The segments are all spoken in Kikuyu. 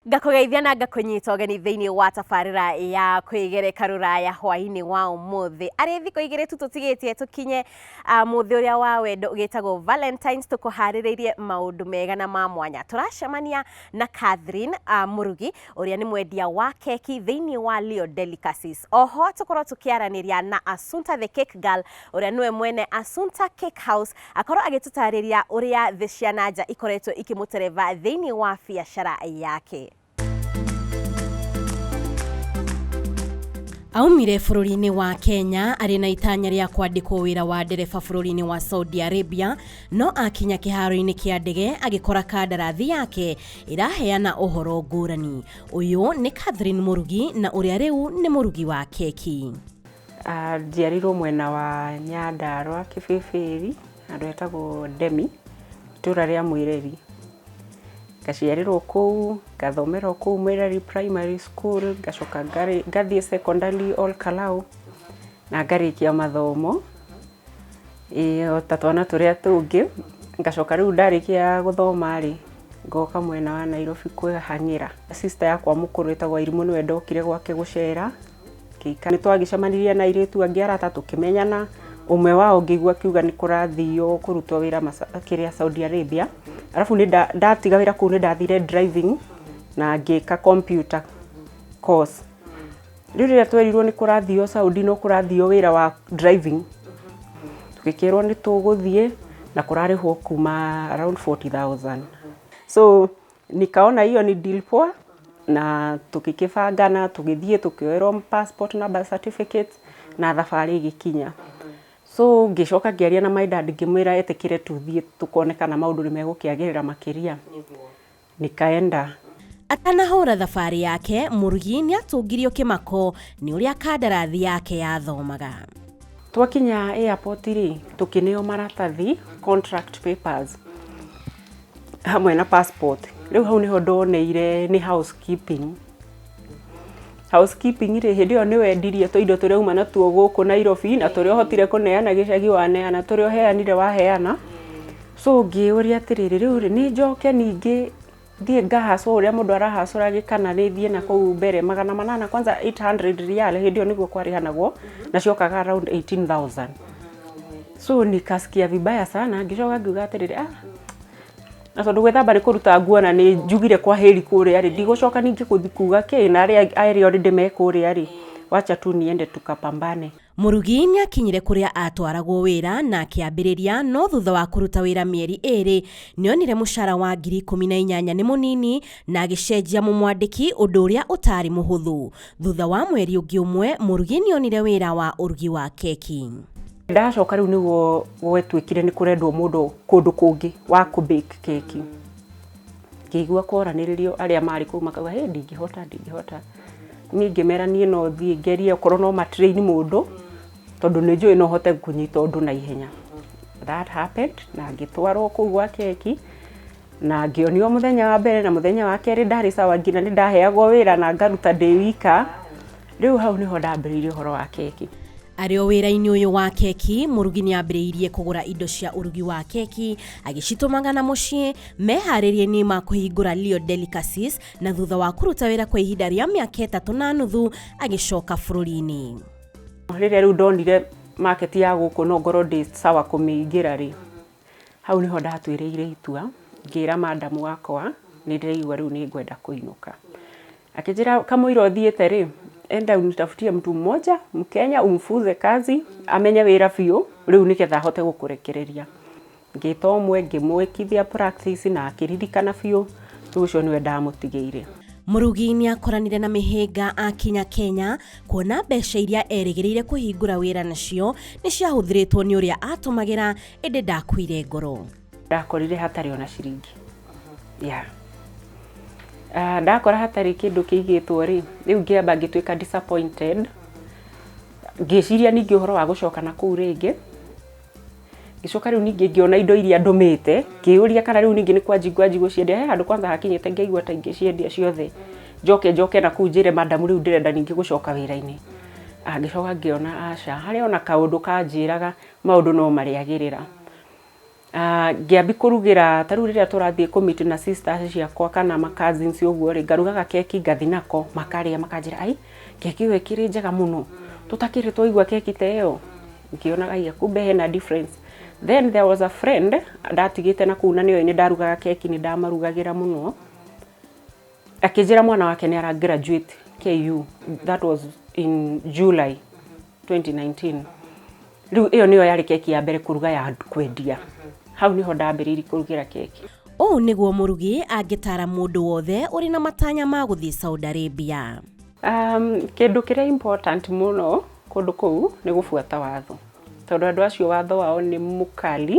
ngakũgeithia na ngakũnyita ũgeni thĩinĩ wa tabarĩra ya kwĩgereka rũraya hwaĩ-inĩ wa ũmũthĩ arĩ thikũ igĩrĩ tu tũtigĩtie tũkinye ah, mũthĩ ũrĩa wa wendo ũgĩtagwo valentines tũkũharĩrĩirie maũndũ mega na ma mwanya tũracemania na catherine ah, mũrugi ũrĩa nĩ mwendia wa keki thĩinĩ wa Leo Delicacies. Oho tũkorwo tũkĩaranĩria na Asunta the Cake Girl ũrĩa nĩwe mwene Asunta Cake House akorwo agĩtũtarĩria ũrĩa thĩ cia na nja ikoretwo ikĩmũtereva thĩinĩ wa biacara yake. Aumire bũrũri-inĩ wa Kenya arĩ na itanya rĩa kwandĩkwo wĩra wa ndereba bũrũri-inĩ wa Saudi Arabia, no akinya kĩharo-inĩ kĩa ndege agĩkora kandarathi yake ĩraheana ũhoro ngũrani. Ũyũ nĩ Catherine Mũrugi na ũrĩa rĩu nĩ mũrugi wa keki. Ah, Njiarirwo mwena wa Nyandarũa Kĩbĩbĩri, handũ hetagwo Ndemi, itũra rĩa Mwĩreri. Ngaciarĩrwo kũu, ngathomera o kũu Mwĩreri Primary School, ngacoka ngarĩ- ngathiĩ secondary Ol Kalou, na ngarĩkia mathomo. Ĩĩ o ta twana tũrĩa tũngĩ, ngacoka rĩu ndarĩkia gũthoma rĩ, ngoka mwena wa Nairobi kwĩhang'ĩra. Sister yakwa mũkũrũ etagwo Wairimũ nĩwe ndokire gwake gũcera, ngĩikara. Nĩ twagĩcemanirie na airĩtu angĩ arata tũkĩmenyana, ũmwe wao ngĩigua akiuga nĩ kũrathio kũrutwo wĩra kĩrĩa Saudi Arabia, arabu ndatiga wĩra kũu nĩ ndathire driving na ngĩka computer course. Rĩu rĩrĩa twerirwo nĩ kũrathio Saudi no kũrathio wĩra wa driving, tũgĩkĩrwo nĩ tũgũthiĩ na kũrarĩhwo kuma around forty thousand. So nikaona hiyo ni deal poa na tũgĩkĩbangana tũgĩthiĩ tũkĩoerwo passport na birth certificate na thabarĩ ĩgĩkinya. So ngĩcoka ngĩaria na my dad ngĩmwĩra etĩkĩre tũthiĩ tũkone kana maũndũ nĩ megũkĩagĩrĩra makĩria. nikaenda. Atanahũra thabarĩ yake, Mũrugi nĩatũngirio kĩmako nĩ ũrĩa kandarathi yake yathomaga. Twakinya airport-rĩ, tũkĩneo maratathi, contract papers, hamwe na passport. Rĩu hau nĩho ndoneire nĩ housekeeping housekeeping rĩ hĩndĩ ĩyo nĩ wendirie tũindo tũrĩa uma natuo gũkũ Nairobi na tũrĩa ũhotire kũneana gĩcagi waneana tũrĩa ũheanire waheana so ngĩũria atĩrĩrĩ rĩu rĩ nĩ njoke ningĩ thiĩ ngahacwo ũrĩa mũndũ arahacũra gĩkana nĩ thiĩ na kũu mbere magana manana kwanza 800 real hĩndĩ ĩyo nĩguo kwarĩhanagwo na ciokaga around 18000 so nikasikia vibaya sana ngĩcoka ngiuga atĩrĩrĩ ah na tondå gwä thamba nä kå ruta nguo na nä njugire kwa hä ri kå rä a rä ndigå coka ningä gå thi kuga kä na arä a erä orä ndä me kå rä a rä wacha tu niende tukapambane Mũrugi nĩ aakinyire kũrĩa aatwaragwo wĩra na akĩambĩrĩria, no thutha wa kũruta wĩra mĩeri ĩĩrĩ, nĩ onire mũcara wa ngiri ikũmi na inyanya nĩ mũnini na agĩcenjia mũmwandĩki, ũndũ ũrĩa ũtaarĩ mũhũthũ. Thutha wa mweri ũngĩ ũmwe, Mũrugi nĩ onire wĩra wa ũrugi wa keki. Ndacoka rĩu nĩguo gwetwĩkire nĩ kũrendwo mũndũ kũndũ kũngĩ wa kũ bake keki. Ngĩigua kworanĩrĩrio arĩa marĩ kũu makauga hĩ ndingĩhota ndingĩhota. Niĩ ngĩmera niĩ no thiĩ ngerie okorwo no ma train mũndũ tondũ nĩ njũĩ no hote kũnyita ũndũ na ihenya. That happened na ngĩtwarwo kũu gwa keki. Na ngĩonio mũthenya wa mbere na mũthenya wa kerĩ ndarĩ sawa nginya nĩ ndaheagwo wĩra na ngaruta ndĩ wika. Rĩu hau nĩho ndambĩrĩirie ũhoro wa keki. Arĩ o wĩra-inĩ ũyũ wa keki, mũrugi nĩ aambĩrĩirie kũgũra indo cia ũrugi wa keki agĩcitũmaga na mũciĩ meharĩria-inĩ ma kũhingũra Leo Delicacies na thutha wa kũruta wĩra kwa ihinda rĩa mĩaka ĩtatũ na nuthu agĩcoka bũrũri-inĩ. Rĩrĩa rĩu ndonire market ya gũkũ no ngorwo ndĩ sawa kũmĩingĩra rĩ, Hau nĩho ndatuĩrĩire itua, ngĩra madam wakwa nĩ ndĩraigua rĩu nĩ ngwenda kũinũka. Akĩnjĩra kamũira ũthiĩte rĩ, enda unitafutie mtu mmoja mkenya umfunze kazi amenye wĩra biũ rĩu nĩ getha ahote gũkũrekereria. Ngĩta ũmwe ngĩmwĩkithia practice na akĩririkana biũ, rĩu ũcio nĩwe ndamũtigĩire. Mũrugi nĩ akoranire na mĩhĩnga akinya Kenya. kuona mbeca iria erĩgĩrĩire kũhingũra wĩra nacio nĩ ciahũthĩrĩtwo nĩ ũrĩa atũmagĩra ĩndĩ ndakuire ngoro ndakorire hatarĩ ona ciringi yeah. uh, ndakora hatarĩ kĩndũ kĩigĩtwo rĩ rĩu ngĩamba ngĩtuĩka disappointed ngĩciria ningĩ ũhoro wa gũcoka na kũu rĩngĩ ngicoka riu ningi ngiona indo iria ndumite ngiyuria kana riu ningi ni kwanji ngwanji guciendia he handu kwanza hakinyite ngaigua ta ingiciendia ciothe njoke njoke na kuu njire madam riu ndirenda ningi gucoka wira-ini Ah, ngicoka ngiona aca hari ona kaundu kanjiraga maundu no mariagirira Ah, ngiambi kurugira ta riu riria turathie ku meet na sisters ciakwa kana ma cousins uguo ri ngarugaga keki ngathi nako makaria makanjira ai keki iyo ikiri njega muno tutakiri twaigua keki ta iyo ngĩonaga iya kumbe hena difference then there was a friend ndatigĩte na kũu na nĩyo nĩ ndarugaga keki nĩ ndamarugagĩra mũno akĩnjĩra mwana wake nĩ ara graduate KU that was in July 2019 rĩu ĩyo nĩyo yarĩ keki ya mbere kũruga ya kwendia hau nĩho ndambĩrĩirie kũrugĩra keki ũũ nĩguo mũrugi angĩtaara mũndũ wothe ũrĩ na matanya ma gũthiĩ Saudi Arabia. Kĩndũ kĩrĩa important mũno kũndũ kũu nĩ gũbuata watho, tondũ andũ acio watho wao nĩ mũkali,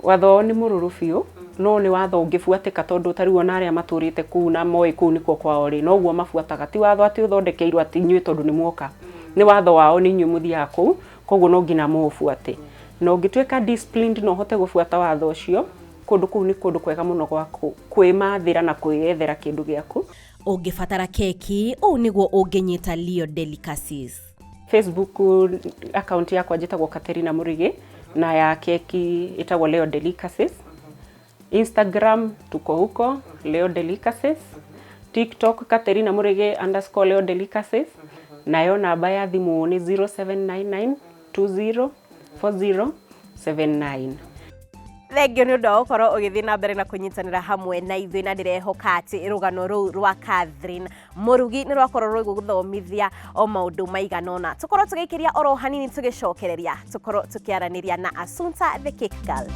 watho wao nĩ mũrũrũ biũ, no nĩ watho ũngĩbuatĩka tondũ ta rĩu ona arĩa matũrĩte kũu na moĩ kũu nĩkuo kwao rĩ, noguo mabuataga, ti watho atĩ ũthondekeirwo atĩ inyuĩ tondũ nĩ mwoka, nĩ watho wao nĩ inyuĩ mũthiaga kũu, koguo no nginya mũũbuate. Na ũngĩtuĩka disciplined na ũhote gũbuata watho ũcio, kũndũ kũu nĩ kũndũ kwega mũno gwa kwĩmathĩra na kwĩyethera kĩndũ gĩaku. Ũngĩbatara keki, ũũ nĩguo ũngĩnyita Leo Delicacies. Facebook account yakwa njĩtagwo Katerina Murigi na ya keki ĩtagwo Leo Delicacies. Instagram tuko huko Leo Delicacies. TikTok Katerina Murigi underscore Leo Delicacies. Nayo namba ya thimũ nĩ 0799 204079. Thengio nĩ ũndũ wa gũkorwo ũgĩthiĩ na mbere na kũnyitanĩra hamwe na ithuĩ na ndĩrehoka atĩ rũgano rũu rwa Catherine Mũrugi nĩ rwakorwo rũgũgũthomithia o maũndũ maigana ũna. Tũkorwo tũgĩikĩria oro hanini tũgĩcokereria, tũkorwo tũkĩaranĩria na Asunta the Cake Girl.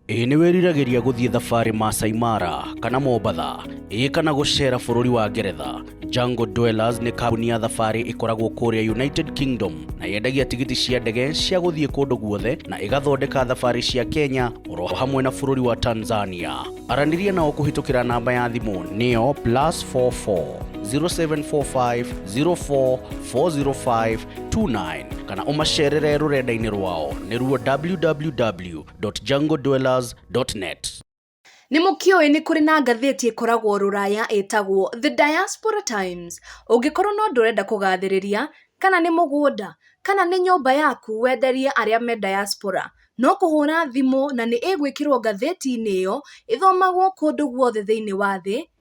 Ĩĩ nĩ wĩriragĩria gũthiĩ thabarĩ Maasai Mara kana Mombatha, ĩĩ kana gũceera bũrũri wa Ngeretha. Jungle Dwellers nĩ kambuni ya thabarĩ ĩkoragwo kũrĩa United Kingdom na yendagia tigiti cia ndege cia gũthiĩ kũndũ guothe na ĩgathondeka thabarĩ cia Kenya oro hamwe na bũrũri wa Tanzania. Aranĩria nao kũhĩtũkĩra namba ya thimũ nĩyo plus 44 0745 04 405 29 kana ũmacerere rũrenda-inĩ rwao nĩruo www www.jungledwellers.net. Nĩ mũkĩũĩ nĩ kũrĩ na ngathĩti ĩkoragwo rũraya ĩtagwo The Diaspora Times. Ũngĩkorwo no ndũrenda kũgathĩrĩria, kana nĩ mũgũnda, kana nĩ nyũmba yaku wenderie arĩa me diaspora, no kũhũra thimũ na nĩ ĩgwĩkĩrwo ngathĩti-inĩ ĩyo ĩthomagwo kũndũ guothe thĩinĩ wa thĩ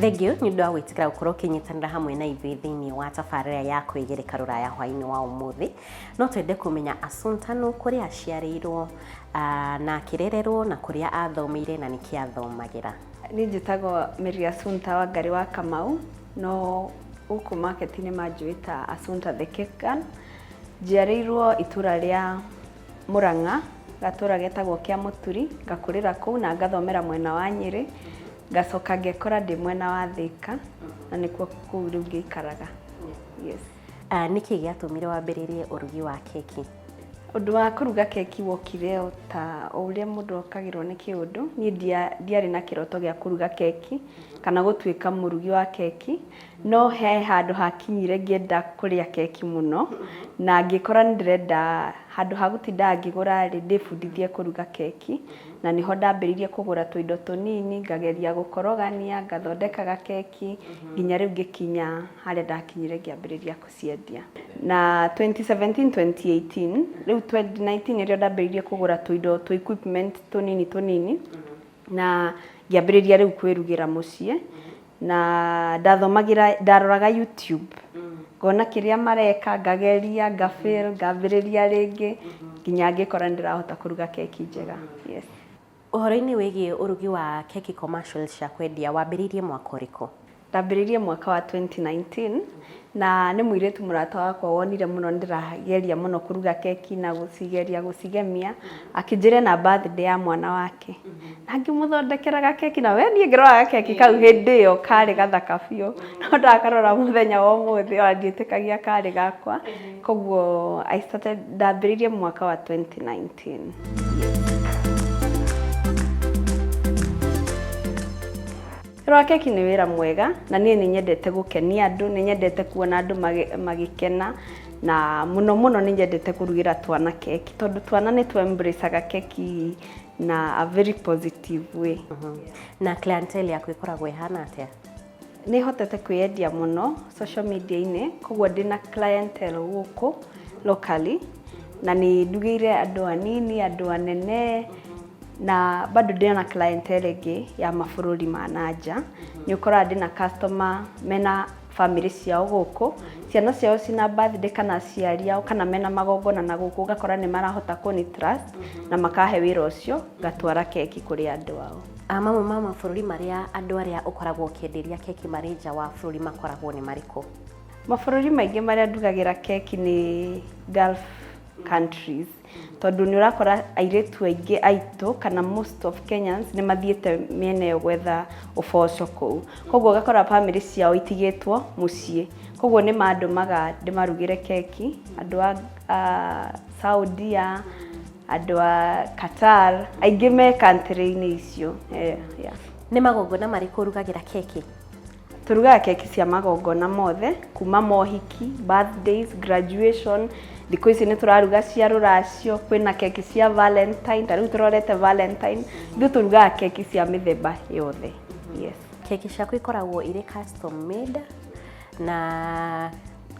Thengio nĩ ũndũ wa gwĩtĩkĩra gũkorwo ũkĩnyitanĩra hamwe na ithuĩ thĩinĩ wa tabarĩra ya kwĩgereka rũraya hwainĩ wa ũmũthĩ no twende kũmenya Assunta nũ kũrĩa aciarĩirwo ah, na akĩrererwo na kũrĩa athomeire na nĩkĩ athomagĩra Niĩ njĩtagwo Mary Assunta wa Ngari wa Kamau, no gũkũ market-inĩ manjũĩ ta Assunta the Cake Girl, Njiarĩirwo itũra rĩa Mũrang'a, gatũra getagwo kĩa Mũturi, ngakũrĩra kũu na ngathomera mwena wa Nyĩrĩ, ngacoka ngekora ndĩ mwena wa Thĩka, na nĩkuo kũu rĩu ngĩikaraga. Yes. Nĩkĩ gĩatũmire wambĩrĩrie ũrugi wa keki? Ũndũ wa kũruga keki wokire o ta o ũrĩa mũndũ okagĩrwo nĩ kĩũndũ, niĩ ndiarĩ na kĩroto gĩa kũruga keki, kana gũtuĩka mũrugi wa keki, No he handũ hakinyire ngĩenda kũrĩa keki mũno, na ngĩkora nĩ ndĩrenda handũ ha gũtindaga ngĩgũra rĩ, ndĩbundithie kũruga keki, na nĩho ndambĩrĩirie kũgũra tũindo tũnini, ngageria gũkorogania, ngathondeka gakeki, nginya rĩu ngĩkinya harĩa ndakinyire ngĩambĩrĩria gũciendia. Na twenty seventeen, twenty eighteen, rĩu twenty nineteen nĩrĩo ndambĩrĩirie kũgũra tũindo, tũ equipment tũnini tũnini, na ngĩambĩrĩria rĩu kwĩrugĩra mũciĩ na ndathomagĩra, ndaroraga YouTube ngona kĩrĩa mareka ngageria nga fail ngambĩrĩria rĩngĩ nginya ngĩkora nĩ ndĩrahota kũruga keki njega. Yes. Ũhoro-inĩ wĩgiĩ ũrugi wa keki commercial cia kwendia, wambĩrĩirie mwaka ũrĩkũ? Ndambĩrĩirie mwaka wa twenty nineteen, na nĩ mũirĩtu mũrata wakwa wonire mũno nĩ ndĩrageria mũno kũruga keki na gũcigeria gũcigemia, akĩnjĩra ena birthday ya mwana wake, na ngĩmũthondekera gakeki, na we niĩ ngĩrora gakeki kau hĩndĩ ĩyo karĩ gathaka biũ, no ndakarora mũthenya wa ũmũthĩ ona ndiĩtĩkagia karĩ gakwa, koguo I started ndambĩrĩirie mwaka wa twenty nineteen. Wĩra wa keki nĩ wĩra mwega na niĩ nĩ nyendete gũkenia andũ, nĩ nyendete kuona andũ magĩkena na mũno mũno nĩ nyendete kũrugĩra twana keki tondũ twana nĩ tũ embrace aga keki na a very positive way. Na clientele yaku ĩkoragwo ĩhana atĩa? Nĩ hotete kwĩyendia mũno social media -inĩ kogwo ndĩna clientele gũkũ locally na nĩ ndugĩire andũ anini, andũ anene. Na bado ndĩ na clientele ĩngĩ ya mabũrũri ma na nja. Nĩ ũkoraga ndĩ na customer mena family ciao gũkũ, ciana ciao cina birthday kana aciari ao kana mena magongona na gũkũ ũgakora nĩ marahota kũni trust na makahe wĩra ũcio ngatwara keki kũrĩ andũ ao. Mamwe ma mabũrũri marĩa andũ arĩa ũkoragwo ũkĩenderia keki marĩ nja wa bũrũri makoragwo nĩ marĩkũ? Mabũrũri maingĩ marĩa ndugagĩra keki nĩ Gulf countries. Tondũ nĩ ũrakora airĩtu aingĩ aitũ kana most of Kenyans nĩ mathiĩte mĩena ĩyo gwetha ũboco kũu. Koguo ũgakora bamĩrĩ ciao itigĩtwo mũciĩ. Koguo nĩ mandũmaga ndĩmarugĩre keki, andũ a Saudia, andũ a Qatar, aingĩ me country -inĩ icio. Nĩ magongona marĩkũ ũrugagĩra keki? Tũrugaga keki cia magongona mothe, kuma mohiki, birthdays, graduation, thikũ ici nĩ tũraruga cia rũracio, kwĩna keki cia valentine, ta rĩu tũrorete valentine, ithuĩ tũrugaga keki cia mĩthemba yothe. Yes. Keki ciaku ikoragwo irĩ custom made na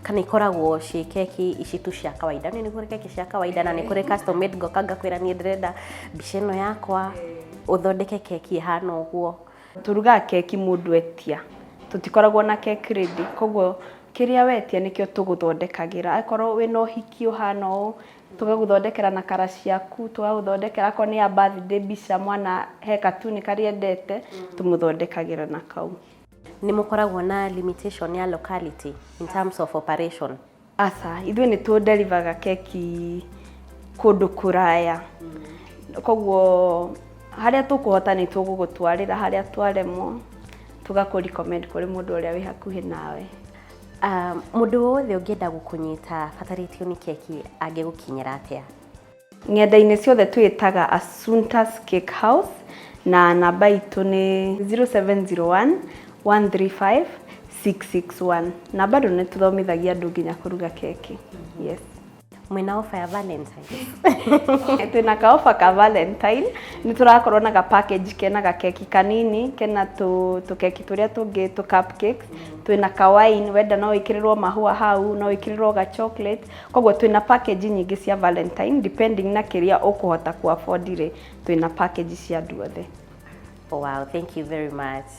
kana ikoragwo ciĩ keki ici tu cia kawaida nĩ kũrĩ keki cia kawaida na nĩ kũrĩ custom made ngoka ngakwĩra niĩ ndĩrenda mbica ĩno yakwa ũthondeke keki ĩhana ũguo Tũrugaga keki mũndũ etia, tũtikoragwo na cake ready, koguo kĩrĩa wetia nĩkĩo tũgũthondekagĩra. Akorwo wĩ na ũhiki ũhana ũũ, tũgagũthondekera na kara ciaku, tũgagũthondekera akorwo nĩ ya birthday mbica, mwana he katuni karĩa endete, tũmũthondekagĩra na kau. Nĩ mũkoragwo na limitation ya locality in terms of operation? Aca, ithuĩ nĩ tũ deliver ga keki kũndũ kũraya. Koguo harĩa tũkũhota nĩ tũgũgũtwarĩra, harĩa twaremwo tũgakũ recommend kũrĩ mũndũ ũrĩa wĩ hakuhĩ nawe. Mũndũ wothe ũngĩenda gũkũnyita abatarĩtio nĩ keki angĩgũkinyĩra atĩa? Ng'enda-inĩ ciothe twĩĩtaga Assunta's Cake House na namba itũ nĩ 0701-135-661 na bado nĩ tũthomithagia andũ nginya kũruga keki. Yes. Mwĩna ofa ya Valentine. Twĩna ka offer ka Valentine, nĩ tũrakorwo na ga package kena ga keki kanini, kena tũ tũkeki tũrĩa tũngĩ tũ cup cakes, twĩna ka wine, wenda no wĩkĩrĩrwo mahũa hau, no wĩkĩrĩrwo ga chocolate. Koguo twĩna package nyingĩ cia Valentine depending na kĩrĩa ũkũhota kũ afford rĩ, twĩna package cia andũ othe. Wow, thank you very much.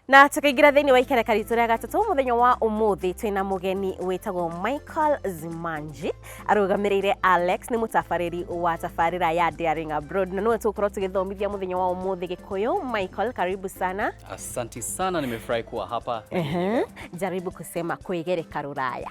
Na tũkaingĩra thĩinĩ wa ikereka ritũ rĩa gatatũ mũthenya wa ũmũthĩ twĩna mũgeni wĩtagwo Michael Zimanji arũgamĩrĩire Alex nĩ mũtabarĩri wa tabarĩra ya Daring Abroad na nĩwe tũgũkorwo tũgĩthomithia mũthenya wa ũmũthĩ Gĩkũyũ. Michael, karibu sana. Asanti sana, nimefurahi kuwa hapa. Ehe, jaribu kusema kwĩgereka rũraya.